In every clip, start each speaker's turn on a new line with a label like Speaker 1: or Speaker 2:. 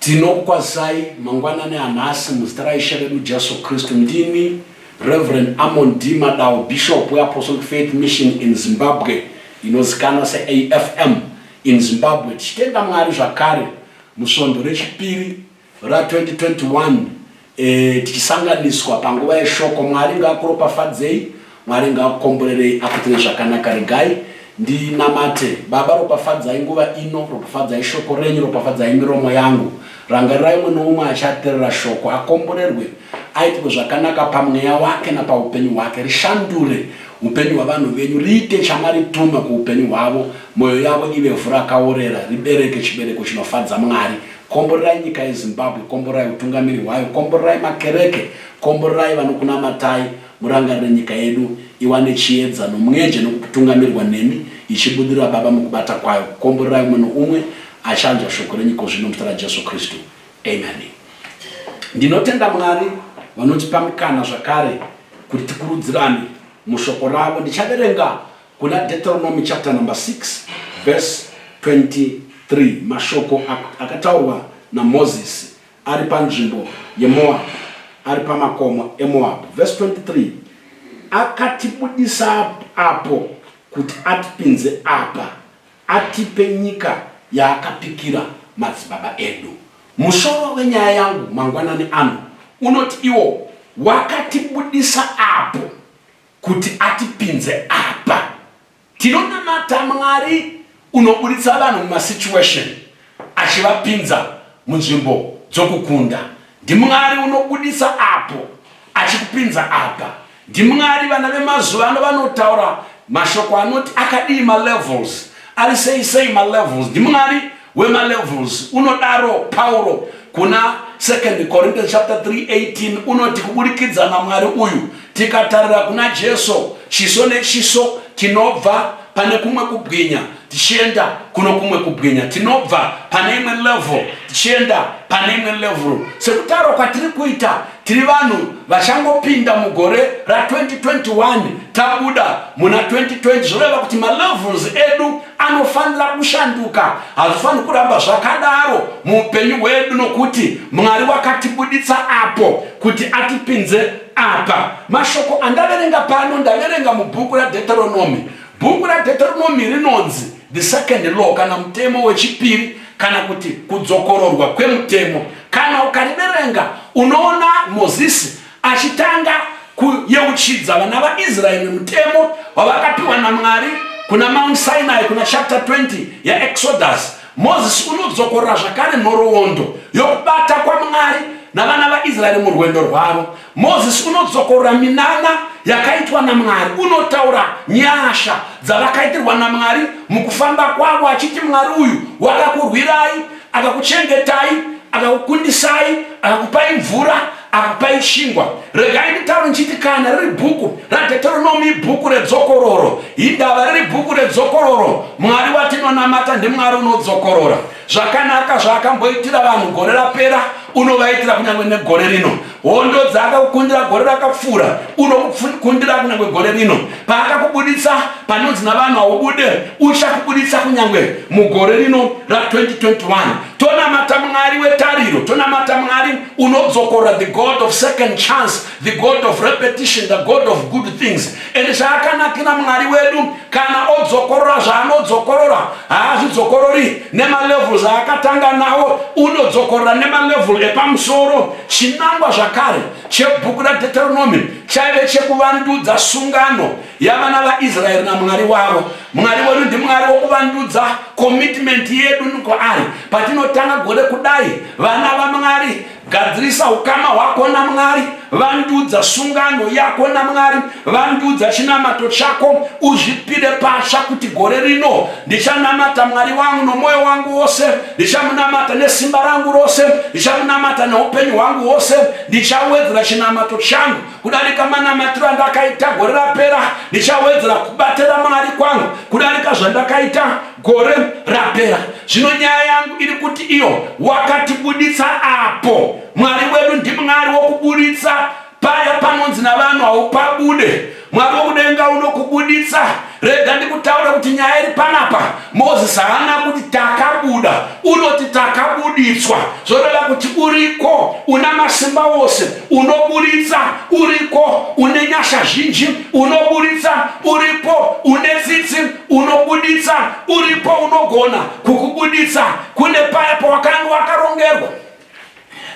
Speaker 1: Tinokukwazai mangwanani anhasi muzita raIshe vedu Jesu Kristu. Ndini Reverend Amon D. Madau, Bishop weApostolic Faith Mission in Zimbabwe, inozikanwa seAFM in Zimbabwe, tichitenda Mwari zvakare musvondo rechipiri ra 2021 eh, tichisanganiswa panguva yeshoko mwari ngaakuropafadzei mwari ngaakukomborerei akuitire zvakanaka regai ndinamate baba ropafadzai nguva ino ropafadzai shoko renyu ropafadzai miromo yangu rangarirai umwe noumwe achaterera shoko akomborerwe aitirwe zvakanaka pamweya wake napaupenyu hwake rishandure upenyu hwavanhu venyu riite chamarituma kuupenyu hwavo mwoyo yavo ive vhu rakaorera ribereke chibereko chinofadza mwari Komborerai nyika yeZimbabwe, komborerai hutungamiri hwayo, komborerai makereke, komborerai vanokunamatai, murangarire nyika yedu iwane chiedza nomwenje nokutungamirwa nemi, ichibudirira Baba mukubata kwayo, komborerai umwe noumwe achanzwa shoko renyu ikozvino muzita raJesu Kristu. Amen. Ndinotenda Mwari vanotipa mukana zvakare kuti tikurudzirane mushoko ravo. Ndichaverenga Kuna Deuteronomy chapter number 6 verse 23 mashoko akataurwa naMozisi ari panzvimbo yeMoabhu ari pamakomo eMoabhu verse 23 akatibudisa apo kuti atipinze apa atipe nyika yaakapikira madzibaba edu musoro wenyaya yangu mangwanani ano unoti iwo wakatibudisa apo kuti atipinze apa tinonamata mwari unoburitsa vanhu mumasituation achivapinza munzvimbo dzokukunda ndimwari unobudisa apo achikupinza apa ndimwari vana vemazuva ano vanotaura mashoko anoti akadii malevels ari sei sei malevels ndimwari wemalevels unodaro Pauro kuna 2 Corinthians chapter 3:18 unoti kuburikidza naMwari uyu tikatarira kuna Jesu chiso nechiso tinobva pane kumwe kubwinya tichienda kuno kumwe kubwinya tinobva pane imwe level tichienda pane imwe level sekutaura kwatiri kuita tiri vanhu vachangopinda mugore ra2021 tabuda muna 2020 zvoreva kuti malevels edu anofanira kushanduka hazvifaniri kuramba zvakadaro muupenyu hwedu nokuti mwari wakatibuditsa apo kuti atipinze apa mashoko andaverenga pano ndaverenga mubhuku radheteronomi bhuku radheteronomi rinonzi the second law kana mutemo wechipiri kana kuti kudzokororwa kwemutemo kana ukariverenga unoona mozisi achitanga kuyeuchidza vana vaIsraeri mutemo wavakapiwa naMwari kuna Mount Sinai kuna chapter 20 yaExodus, Mozisi unodzokorora zvakare nhoroondo yokubata kwaMwari navana vaIsraeri murwendo rwavo. Mozisi unodzokorora minana yakaitwa naMwari, unotaura nyasha dzavakaitirwa naMwari mukufamba kwavo achiti, Mwari uyu wakakurwirai akakuchengetai akakukundisai akakupai mvura akakupai chingwa regai nditaure ndichiti kana riri bhuku radheteronomi ibhuku redzokororo indava riri bhuku redzokororo mwari watinonamata ndimwari unodzokorora zvakanaka zvaakamboitira vanhu gore rapera unovaitira kunyange negore rino Hondo dzaakakukundira gore rakapfuura unokukundira kunyangwe gore rino. Paakakubuditsa panonzi navanhu haubude, uchakubuditsa kunyangwe mugore rino ra 2021. Tonamata Mwari wetariro, tonamata Mwari unodzokorora, the God of second chance, the God of repetition, the God of good things. and zvaakanakira mwari wedu kana odzokorora zvaanodzokorora haazvidzokorori nemalevel zvaakatanga nawo unodzokorora nemalevel epamusoro chinangwa zvakare chebhuku radeteronomi chaive chekuvandudza sungano yavana vaisraeri namwari wavo mwari wedu ndimwari wokuvandudza commitment yedu nukwaari patinotanga gore kudai vana vamwari Gadzirisa ukama hwako naMwari. Vandudza sungano yako naMwari. Vandudza chinamato chako. Uzvipire patsva kuti gore rino ndichanamata Mwari wangu nomwoyo wangu wose, ndichamunamata nesimba rangu rose, ndichamunamata neupenyu hwangu hwose. Ndichawedzera chinamato changu kudarika manamatiro andakaita gore rapera. Ndichawedzera kubatira Mwari kwangu kudarika zvandakaita gore rapera zvino nyaya yangu iri kuti iyo wakatibuditsa apo mwari wedu ndimwari wokubuditsa paya panonzi navanhu haupabude mwari wokudenga unokubuditsa rega ndikutaura kuti nyaya iri panapa mozisi haana kuti takabuda unoti takabuditswa zvoreva kuti uriko una masimba wose unoburitsa uriko une nyasha zhinji unoburitsa uripo une tsitsi unobuditsa uripo unogona kukubuditsa kune paya pawakanga wakarongerwa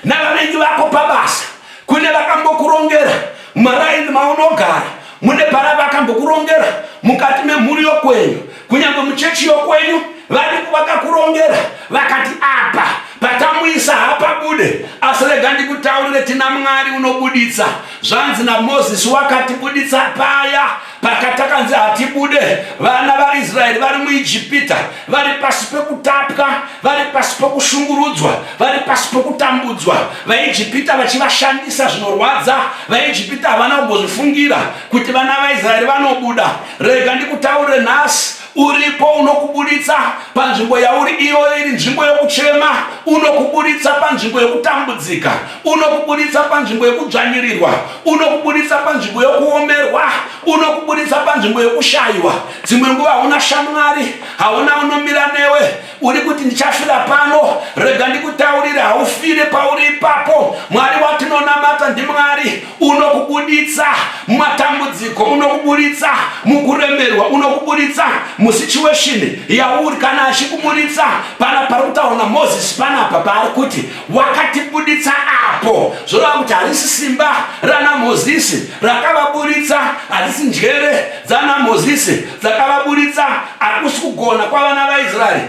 Speaker 1: navavengi vako pabasa kune vakambokurongera maraini maunogara mune paya vakambokurongera mukati memhuri yokwenyu kunyange muchechi yokwenyu varipo vakakurongera vakati apa patamuisa hapabude asi rega ndikutaurire tina mwari unobuditsa zvanzi namozisi wakatibuditsa paya pakatakanzi hatibude vana vaisraeri vari muijipita vari pasi pekutapwa vari pasi pokushungurudzwa vari pasi pokutambudzwa vaijipita vachivashandisa zvinorwadza vaijipita havana kugozvifungira kuti vana vaisraeri vanobuda rega ndikutaurire nhasi uripo unokuburitsa panzvimbo yauri iyoyo iri nzvimbo yokuchema unokuburitsa panzvimbo yokutambudzika unokuburitsa panzvimbo yokudzvanyirirwa unokuburitsa panzvimbo yokuomerwa unokuburitsa panzvimbo yokushayiwa dzimwe nguva hauna shamwari hauna unomira newe uri kuti ndichasvira pano rega ndikutaurire haufire pauri ipapo mwari watinonamata ndimwari unokubuditsa mumatambudziko unokubuditsa mukuremerwa unokubuditsa musituation yauri kana achikubuditsa pana pari kutaura namozisi panapa paari kuti wakatibuditsa apo zvoreva kuti harisi simba ranamozisi rakavabuditsa harisi njere dzanamozisi dzakavabuditsa hakusi kugona kwavana vaisraeri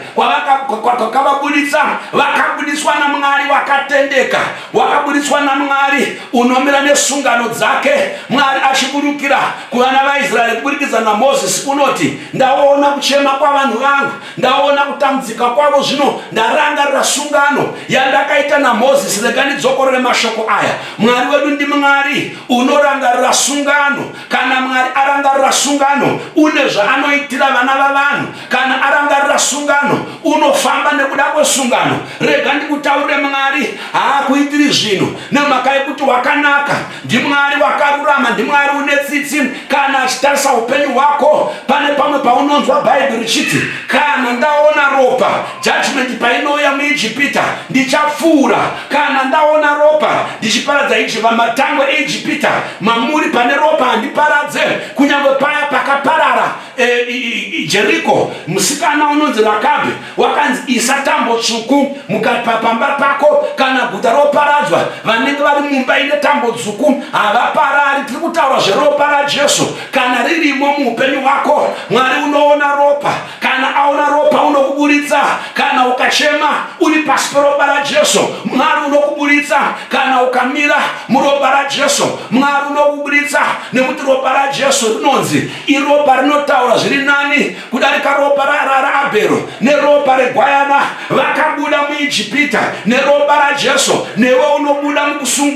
Speaker 1: kwakavabuditsa vakabudiswa namwari wakatendeka wakabudiswa namwari unomira nesungano dzake mwari achiburukira kuvana vaisraeri kuburikidza namozisi unoti ndaona kuchema kwavanhu vangu ndaona kutambudzika kwavo zvino ndarangarira sungano yandakaita namozisi rekanidzokorore mashoko aya mwari wedu ndimwari unorangarira sungano Kana Mwari arangarira sungano, une zvaanoitira vana vavanhu. Kana arangarira sungano, unofamba nekuda kwesungano. Rega ndikutaurire, Mwari haakuitiri zvinhu nemhaka yekuti wakanaka. NdiMwari wakarurama, ndiMwari une tsitsi. Kana achitarisa upenyu hwako, pane pamwe paunonzwa Bhaibheri richiti, kana ndaona ropa, judgment painouya muIjipita, ndichapfuura. Kana ndaona ropa ndichiparadza Ijipita, matangwe eIjipita, mamuri pane ropa handiparadze kunyange paya pakaparara e, e, jeriko musikana unonzi rakabe wakanzi isa tambo tsvuku mukati papamba pako kana guta roparadzwa vanenge vari mumba ine tambo dzvuku havaparari tiri kutaura zveropa rajesu kana ririmo muupenyu hwako mwari unoona ropa kana aona ropa unokuburitsa kana ukachema uri pasi peropa rajesu mwari unokuburitsa kana ukamira muropa rajesu mwari unokuburitsa nekuti ropa rajesu rinonzi iropa rinotaura zviri nani kudarika ropa raabhero neropa regwayana vakabuda muijipita neropa rajesu newe unobuda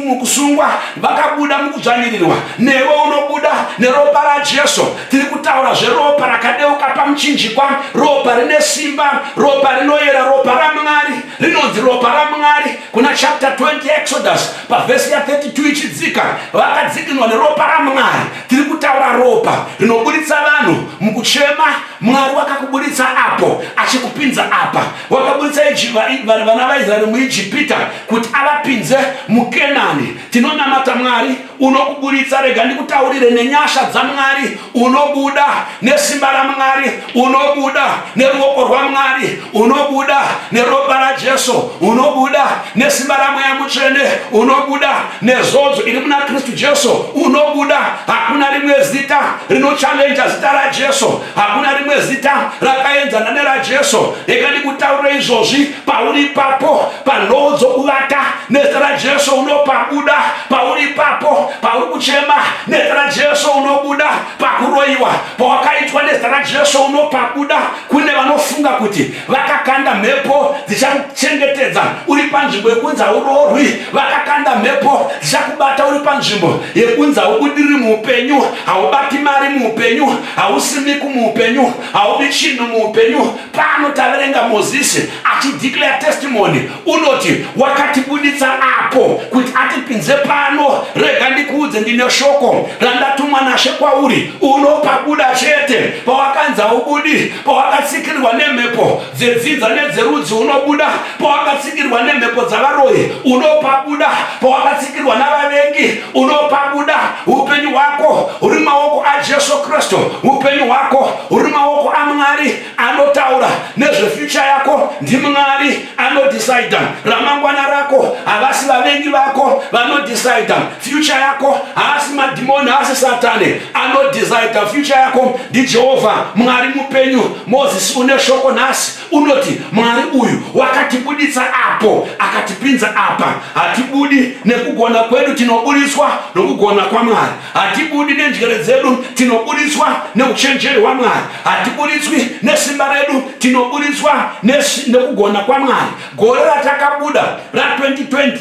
Speaker 1: mukusungwa vakabuda mukudzvanyirirwa newe unobuda neropa rajesu tiri kutaura zveropa rakadeuka pamuchinjikwa ropa rine simba ropa rinoyera ropa ramwari rinonzi ropa ramwari kuna chapter 20 exodus pavhesi ya 32 ichidzika vakadzikinwa neropa ramwari tiri kutaura ropa rinoburitsa vanhu mukuchema mwari wakakuburitsa apo achikupinza apa wakaburitsa vana vaisraeri muijipita kuti avapinze mukenani tinonamata mwari unokuburitsa rega ndikutaurire nenyasha dzamwari unobuda nesimba ramwari unobuda neruoko rwamwari unobuda neropa rajesu unobuda nesimba ramweya mutsvene unobuda nezodzo iri muna kristu jesu unobuda hakuna rimwe zita rinochallenja zita rajesu hakuna rimwe zita rakaenzana nerajesu rega ndikutaurire izvozvi pauri ipapo panhoo dzokuvata nezita rajesu unopabuda pauri ipapo pauri kuchema nezita rajesu unobuda pakuroyiwa pawakaitwa nezita rajesu unopabuda kune vanofunga kuti vakakanda mhepo dzichakuchengetedza uri panzvimbo yekunzi hauroorwi vakakanda mhepo dzichakubata uri panzvimbo yekunzi haubudiri muupenyu haubati mari muupenyu hausimiki muupenyu haubi chinhu muupenyu Pano taverenga Mozisi achideclare testimony, unoti wakatibuditsa apo kuti atipinze pano. Rega ndikuudze, ndine shoko randatumwa naShe kwauri, unopabuda chete. Pawakanza ubudi, pawakatsikirwa nemhepo dzedzinza nedzerudzi unobuda, pawakatsikirwa nemhepo dzavaroyi unopabuda, pawakatsikirwa navavengi unopabuda. Upenyu hwako huri maoko aJesu Kristu, upenyu hwako uri maoko amwari anotaura nezvefyucha yako ndimwari anodhisaidha ramangwana rako havasi vavengi vako vanodhisaidha fyucha yako haasi madhimoni haasi satani anodhisaidha fyucha yako ndijehovha mwari mupenyu mozisi une shoko nhasi unoti mwari uyu wakatibuditsa apo akatipinza apa hatibudi nekugona kwedu tinoburitswa nokugona kwamwari Hatibudi nenjere dzedu, tinoburitswa neuchenjeri hwaMwari. Hatiburitswi nesimba redu, tinoburitswa nekugona kwaMwari. Gore ratakabuda ra2020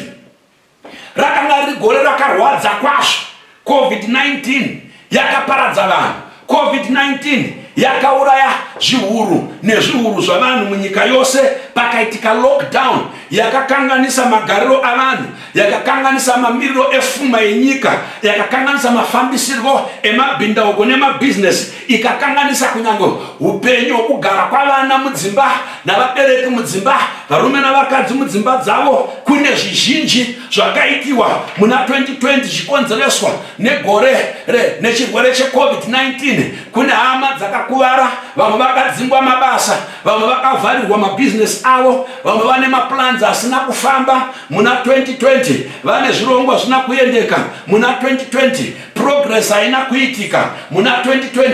Speaker 1: rakanga riri gore rakarwadza kwazvo. COVID-19 yakaparadza vanhu. COVID-19 yakauraya zviuru nezviuru zvavanhu munyika yose pakaitika lockdown yakakanganisa magariro avanhu yakakanganisa mamiriro efuma yenyika yakakanganisa mafambisirwo emabhindauko nemabhizinesi ikakanganisa kunyange upenyu hwokugara kwavana mudzimba navabereki mudzimba varume navakadzi mudzimba dzavo kune zvizhinji zvakaitiwa muna 2020 zvikonzereswa Negore re nechirwere cheCovid-19 kune hama dzakakuvara, vamwe vakadzingwa mabasa, vamwe vakavharirwa mabhizinesi avo, vamwe vane maplans asina kufamba muna 2020, vane zvirongwa zvina kuendeka muna 2020, progress haina kuitika muna 2020.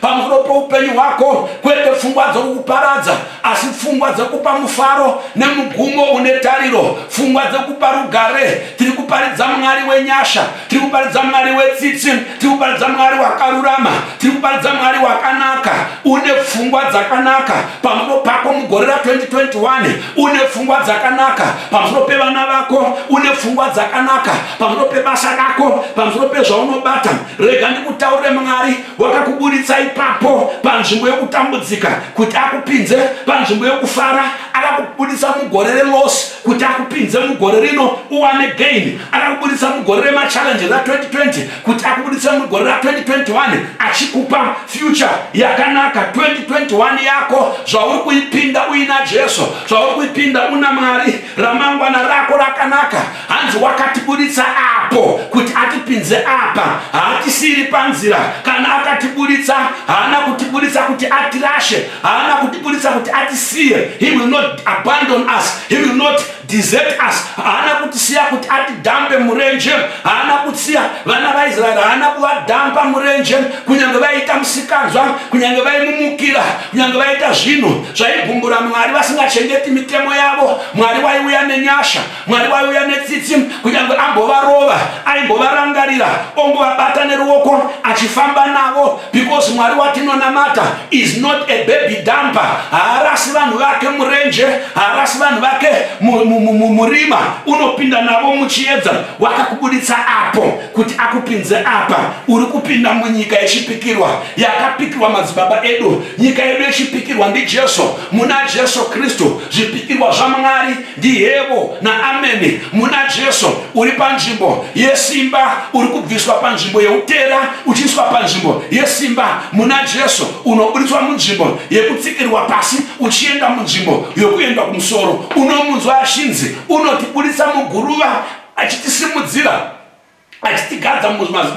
Speaker 1: pamusoro poupenyu hwako kwete pfungwa dzokukuparadza asi pfungwa dzokupa mufaro nemugumo une tariro pfungwa dzokupa rugare tiri kuparidza mwari wenyasha tiri kuparidza mwari wetsitsi tiri kuparidza mwari wakarurama tiri kuparidza mwari wakanaka une pfungwa dzakanaka pamusoro pako mugore ra 2021 une pfungwa dzakanaka pamusoro pevana vako une pfungwa dzakanaka pamusoro pebasa rako pamusoro pezvaunobata rega ndikutaurire mwari wakakuburitsa ipapo panzvimbo yokutambudzika kuti akupinze panzvimbo yokufara akakuburitsa mugore relosi kuti akupinze mugore rino uwane gain akakuburitsa mugore remachallenges ra2020 kuti akuburitse mugore ra2021 achikupa future yakanaka 2021 yako zvauri kuipinda uina jesu zvauri kuipinda una mwari ramangwana rako rakanaka hanzi wakatiburitsa apo kuti atipinze apa haatisiri panzira kana akatiburitsa haana kutiburitsa kuti atirashe haana kutiburitsa kuti atisiye he will not abandon us he will not desert us haana kutisiya kuti atidhambe murenje haana kutsiya vana vaisraeri haana kuvadhamba murenje kunyange vaiita musikanzwa kunyange vaimumukira kunyange vaita zvinhu zvaigumbura mwari vasingachengeti mitemo yavo mwari waiuya nenyasha Mwari waiuya netsitsi, kunyange ambovarova, aimbovarangarira, ongovabata neruoko achifamba navo because Mwari watinonamata is not a baby dumper. Haarasi vanhu vake murenje, haarasi vanhu vake murima, unopinda navo muchiedza. Wakakubuditsa apo kuti akupinze apa, uri kupinda munyika yechipikirwa yakapikirwa madzibaba edu. Nyika yedu yechipikirwa ndiJesu, muna Jesu Kristu zvipikirwa zvaMwari Ndiyevo naameni muna Jesu uri panzvimbo yesimba uri kubviswa panzvimbo yeutera uchiiswa panzvimbo yesimba muna Jesu unoburitswa munzvimbo yekutsikirwa pasi uchienda munzvimbo yokuenda kumusoro unomunzwa achinzi unotiburitsa muguruva achitisimudzira achitigadza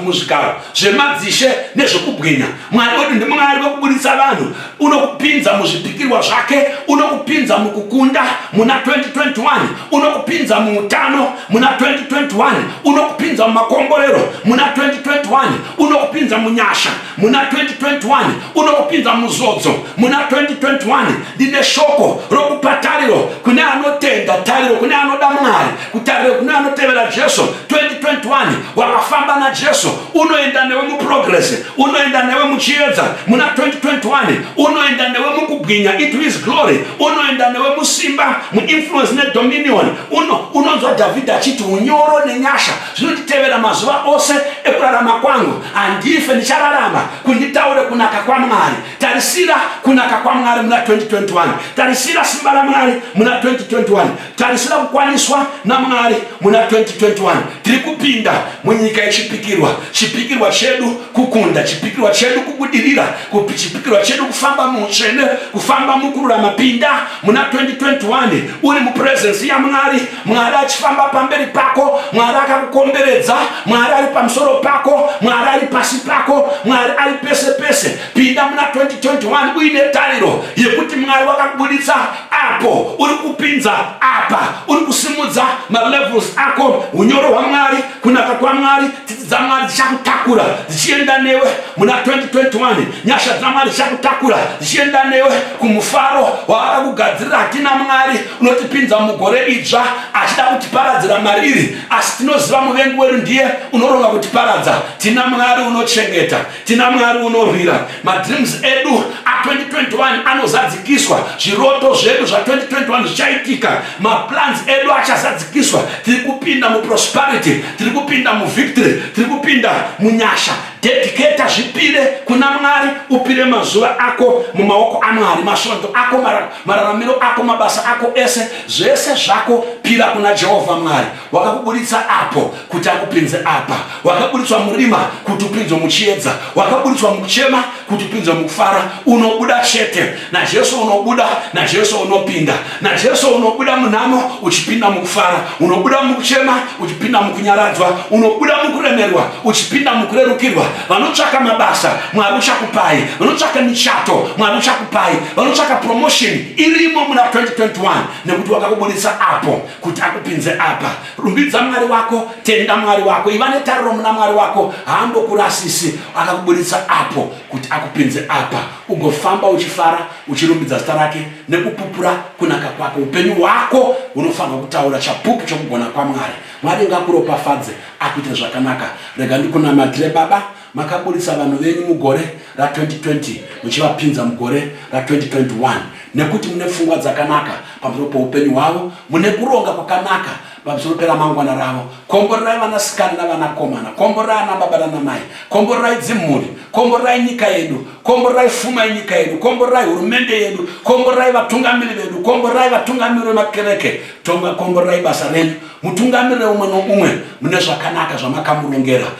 Speaker 1: muzvigaro zvemadzishe nezvekubwinya mwari wedu ndimwari wekuburitsa vanhu unokupinza muzvipikirwa zvake unokupinza mukukunda muna 2021 unokupinza muutano muna 2021 unokupinza mumakomborero muna 2021 unokupinza munyasha muna 2021 unokupinza muzodzo muna 2021 ndine shoko rokupa tariro kune anotenda tariro kune anoda mwari kutarira kune anotevera jesu 2021 wakafamba najesu unoenda newe muprogress unoenda newe muchiedza muna 2021 unoenda newe mukubwinya into his glory unoenda newe musimba muinfluence nedominion uno unonzwa dhavhidhi achiti unyoro nenyasha zvinonditevera mazuva ose ekurarama kwangu handife ndichararama kunditaure kunaka kwamwari tarisira kunaka kwamwari muna 2021 tarisira simba ramwari muna 2021 Tarisira kukwaniswa naMwari muna 2021. Tiri kupinda munyika yechipikirwa. Chipikirwa chedu kukunda, chipikirwa chedu kubudirira, chipikirwa chedu kufamba muutsvene, kufamba mukururama. Pinda muna 2021 uri mupurezensi yaMwari, Mwari achifamba pamberi pako, Mwari akakukomberedza, Mwari ari pamusoro pako, Mwari ari pasi pako, Mwari ari pese pese. Pinda muna 2021 uine tariro yekuti Mwari wakakubuditsa apo uri kupinza apa uri kusimudza malevels ako unyoro hwamwari kunaka kwamwari tsitsi dzamwari dzichakutakura dzichienda newe muna 2021 nyasha dzamwari dzichakutakura dzichienda newe kumufaro waaka kugadzirira hatina mwari unotipinza mugore idzva achida kutiparadzira mariri asi tinoziva muvengi wedu ndiye unoronga kutiparadza tina mwari unochengeta tina mwari unorwira madreams edu a2021 anozadzikiswa zviroto zvedu zva2021 zvichaitika maplans edu achazadzikiswa tiri kupinda muprosperity tiri kupinda muvictory tiri kupinda munyasha dediketa zvipire kuna mwari upire mazuva ako mumaoko amwari masvondo ako mararamiro ako mabasa ako ese zvese zvako pira kuna jehovha mwari wakakuburitsa apo kuti akupinze apa wakaburitswa murima kuti upinzwe muchiedza wakaburitswa mukuchema kuti upinzwe mukufara unobuda chete najesu unobuda najesu unopinda najesu unobuda munhamo uchipinda mukufara unobuda mukuchema uchipinda mukunyaradzwa unobuda mukuremerwa uchipinda mukurerukirwa vanotsvaka mabasa mwari uchakupai vanotsvaka michato mwari uchakupai vanotsvaka promotion irimo muna 2021 nekuti wakakuburitsa apo kuti akupinze apa rumbidza mwari wako tenda mwari wako iva netariro muna mwari wako haambokurasisi akakuburitsa apo kuti akupinze apa ugofamba uchifara uchirumbidza zita rake nekupupura kunaka kwake upenyu hwako hunofanirwa kutaura chapupu chokugona kwamwari mwari ngakuropafadze akuite zvakanaka rega ndikunamatire baba Makaburitsa vanhu venyu mugore ra 2020 muchivapinza mugore ra 2021 nekuti mune pfungwa dzakanaka pamusoro poupenyu hwavo, mune kuronga kwakanaka pamusoro peramangwana ravo. Komborerai vanasikana navanakomana, komborerai anababa nanamai, komborerai dzimhuri, komborerai nyika yedu, komborerai fuma yenyika yedu, komborerai hurumende yedu, komborerai vatungamiri vedu, komborerai vatungamiri vemakereke, tonga komborerai basa renyu, mutungamirire umwe noumwe mune zvakanaka zvamakamurongera.